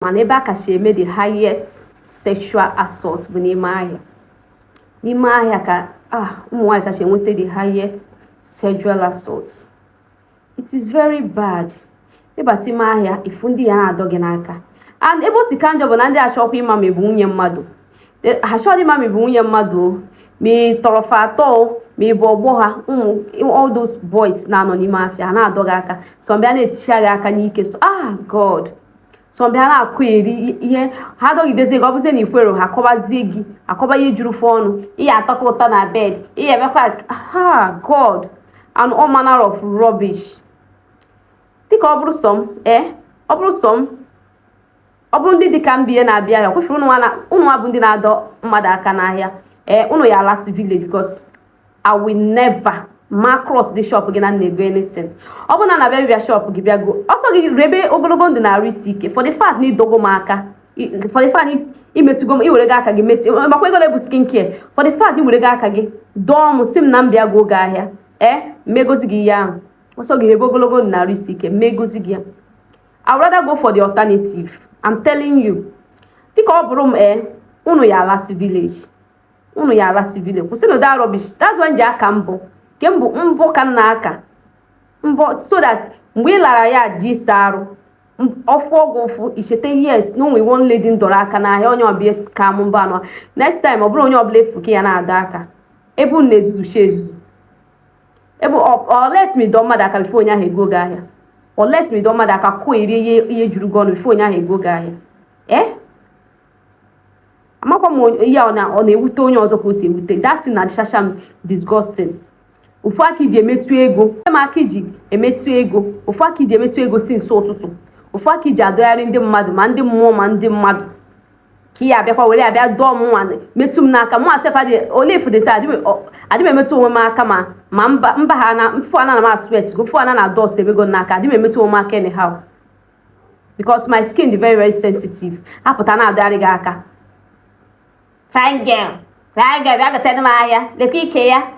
mana ebe a kacha eme the highest sexual assault bụ n'ime ahịa n'ime ahịa ka ah ụmụ nwaanyị kacha enweta the highest sexual assault it is very bad ị bata ime ahịa ị fụ ndị ya na-adọ gị n'aka and ebe o si ka njọ bụ na ndị achọkwa ịma ma ị bụ nwunye mmadụ ha achọghị ịma ma ị bụ nwunye mmadụ o ma ị tọrọ fa atọ ma ị bụ ọgbọ ha ụmụ all those boys na-anọ n'ime afịa na-adọ gị aka some bịa na-eticha gị aka n'ike so ah god some bịa na-akọyeri ihe ha dọgidezie gị ọ bụzie na i kwerọ ha akọbazie gị akọba ihe juru fa ọnụ ị ya-atọka ụtọ na bed ị ya-emekwa ah god and all manner of rubbish dịka ọ bụrụ sọ m ee eh, ọ bụrụ sọ m ọ bụrụ ndị dịka m bụ ihe na-abịa ahịa kwefere ụnụ nwa bụ ndị na-adọ mmadụ aka n'ahịa ee eh, ụnụ ya alasị village because I will never ma cross dị shop gị na m na-ego anything ọ bụrụ na m na-abịa bịa shop gị bịa goo ọ sọ gị rebe ogologo ndụ na arụ isi ike for the fact na ị dọgo m aka for the fact i metụgo m i were gị aka gị metụ makwa ego na-ebu skin care for the fact i were gị aka gị dọọ m sị m na m bịa goo gị ahịa ee eh, m ma-egozi gị ihe ahụ ọ sọ gị rebe ogologo ndụ na arụ isi ike m ma-egozi gị ya I would rather go for the alternative I'm telling you dịka ọ bụrụ m ee eh, unu ya alasị village unu ya alasị village kwụsịnụ that rubbish that's why m ji aka mbọ nke mbọ mbọ ka m na-aka mbọ so that mgbe ị lara ya je ịsa arụ ọ fụọ gị ụfụ i cheta yes na o nwe one lady m dọrọ aka n'ahịa onye ọ bịa ka m mbọ anọ next time ọ bụrọ onye ọbụla ị fụ ka ị ya na-adọ aka ebe unu na-ezuzusi ezuzu ebe unless ma ị dọọ mmadụ aka before onye ahụ ego gị ahịa unless ma ị dọọ mmadụ aka kọyerie ihe juru gị ọnụ before onye ahụ ego gị ahịa ee eh? amakwa m ihe ọ na-ewute onye ọzọ ka o si ewute that thing na-adịchacha m disgusting ofu aka i ji emetụ ego m aka i ji emetụ ego ofu aka i ji emetụ ego since ụtụtụ ofu aka i ji adọgharị ndị mmadụ ma ndị mmụọ ma ndị mmadụ ka ị ya-abịakwa were abịa dọọ m nwa metụ m n'aka mụwa sef ole fudesi adị m emetụ onwe m aka ma ma mba ha na m fụ ana na m asweat go fụ ana na dust ebego n'aka adị m emetụ onwe m aka anyhow because my skin dị very very sensitive apụta na-adọgharị gị aka fine girl fine girl bịa gotere m ahịa lekwa ike ya